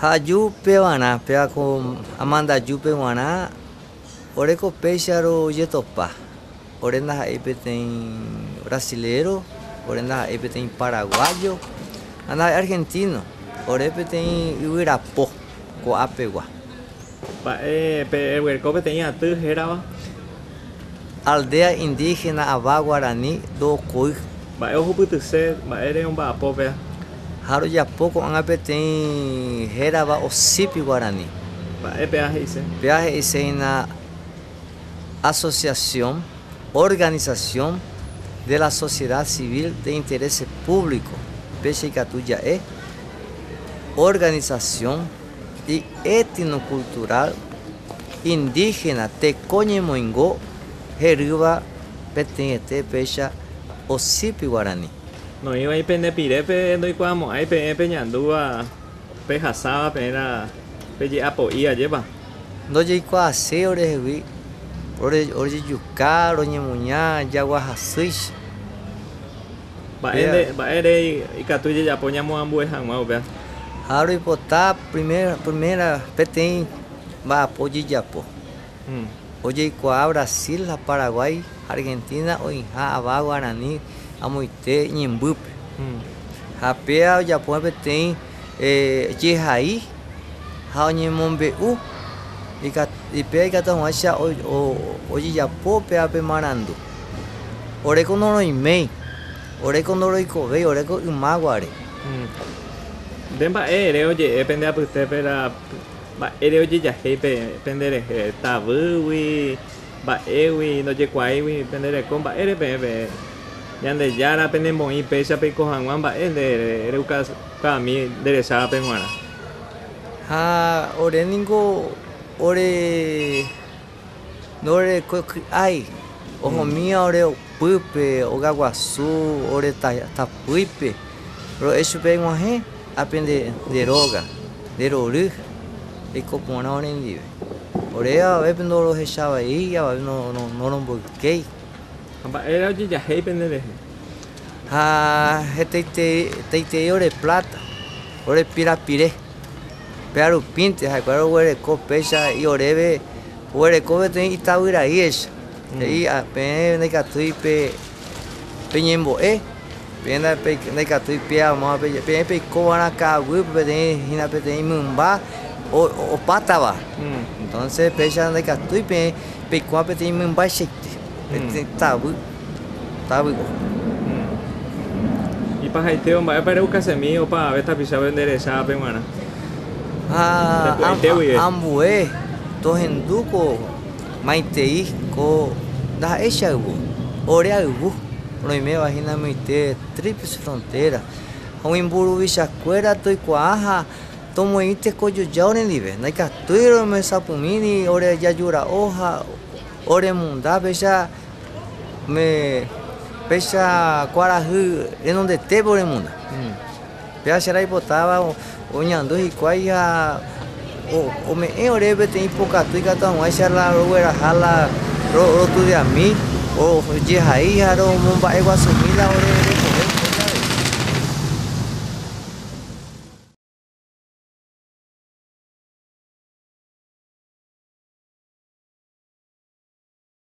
Ha aju pevarã, péva ko amandajúpe g̃uarã, ore ko péicharo jetopa, ore ndaha'éi peteĩ brasiléro, ore ndaha'éi peteĩ paraguájo, ha ndaha'éi argentíno, ore peteĩ yvyrapo ko'ã pegua. Mba'e peguereko peteĩ aty hérava. Aldea indígena ava guarani ndokoy. Mba'e ohupytyse mba'ére omba'apo péa. Ha rojapo ko'ág̃a peteĩ hérava osípi guarani. Mba'e péa he'ise. Péa he'ise hína asociación, organización, de la sociedad civil de interés público, péicha ikatu ja'e organización, ietinokultural indígena teko ñemoingo herýva peteĩete péicha osípi guarani. Noĩvai pende pirépe ndoikuaamo'ãi peẽ peñandúva pehasáva peẽra peje'apo'i ajépa. Ndojeikuaasei orehegui rojejuka roñemuña jagua hasýicha. Mba'énte, mba'ére ikatu ijejapo ñamoambue hag̃ua upéva? Ha roipota primera, primera peteĩ mba'apo ojejapo. Ojeikuaa Brasil ha Paraguái ha Argentina oĩha ava guarani amoite ñembýpe. Ha péva ojapo peteĩ jehai ha oñemombe'u péva ikatu hag̃uáicha ojejapo péva pe marandu. Oreko noroiméi, oreko ndoroikovéi, oreko ymaguare. Nde mba'e ere oje'e pende apytépe la mba'ére ojejahéi pende rehe, tavýgui, mba'égui, ndojekuaáigui pende reko, mba'ére peẽ peẽ Ñandejára penemoĩ péicha peiko hag̃ua mba'e nde reukami nderechávape g̃uarã. Ha ore ningo ore. Ndorekue ky'ái, ohomíva ore opýpe, ogaguasu ore tapýipe, ro'e chupe aiguahẽ, ápe nde róga, nde rory, reiko porã orendive. Ore avavépe ndorohecha avei, avavépe noromboykéi. Ha mba'éra ojejahéi pende rehe? Ha hetaiterei ore pláta, ore pirapire. Péa rupínte ha'ekuéra roguereko péicha he'i oréve, oguereko peteĩ itavyraíecha, he'i, Peẽ ndaikatúi peñembo'e, peẽ ndaikatúi peẽ peikova'erã ka'aguýpe peteĩ hína peteĩ mymba opátava. Entonce péicha ndaikatúi peẽ peikuaa peteĩ mymbaichaite, peteĩ tavy. távype. Ipahaitévo, mba'épa ereukasemi opa ave tapichápe nde rehecha ápe g̃uarã? Ha ambue tohendu ko maitei ko ndaha'éicha yvy, ore ayvu, roiméva hína myeite tríplice frontera, ha umi mburuvicha kuéra toikuaa ha tomoĩ tekojojao rendive, ndaikatúi rohesapumíri ore jajura'o ha ore munda péicha. Umi péicha kuarahy renondetépe oremunda. Pe acha raipotáva oñandu hikuái ha ome'ẽ ore peteĩ pokatu ikatu hag̃uáicha rogueraha la rotudiami, ojehai ha romomba'eguasumi la ore rekove hikuái avei.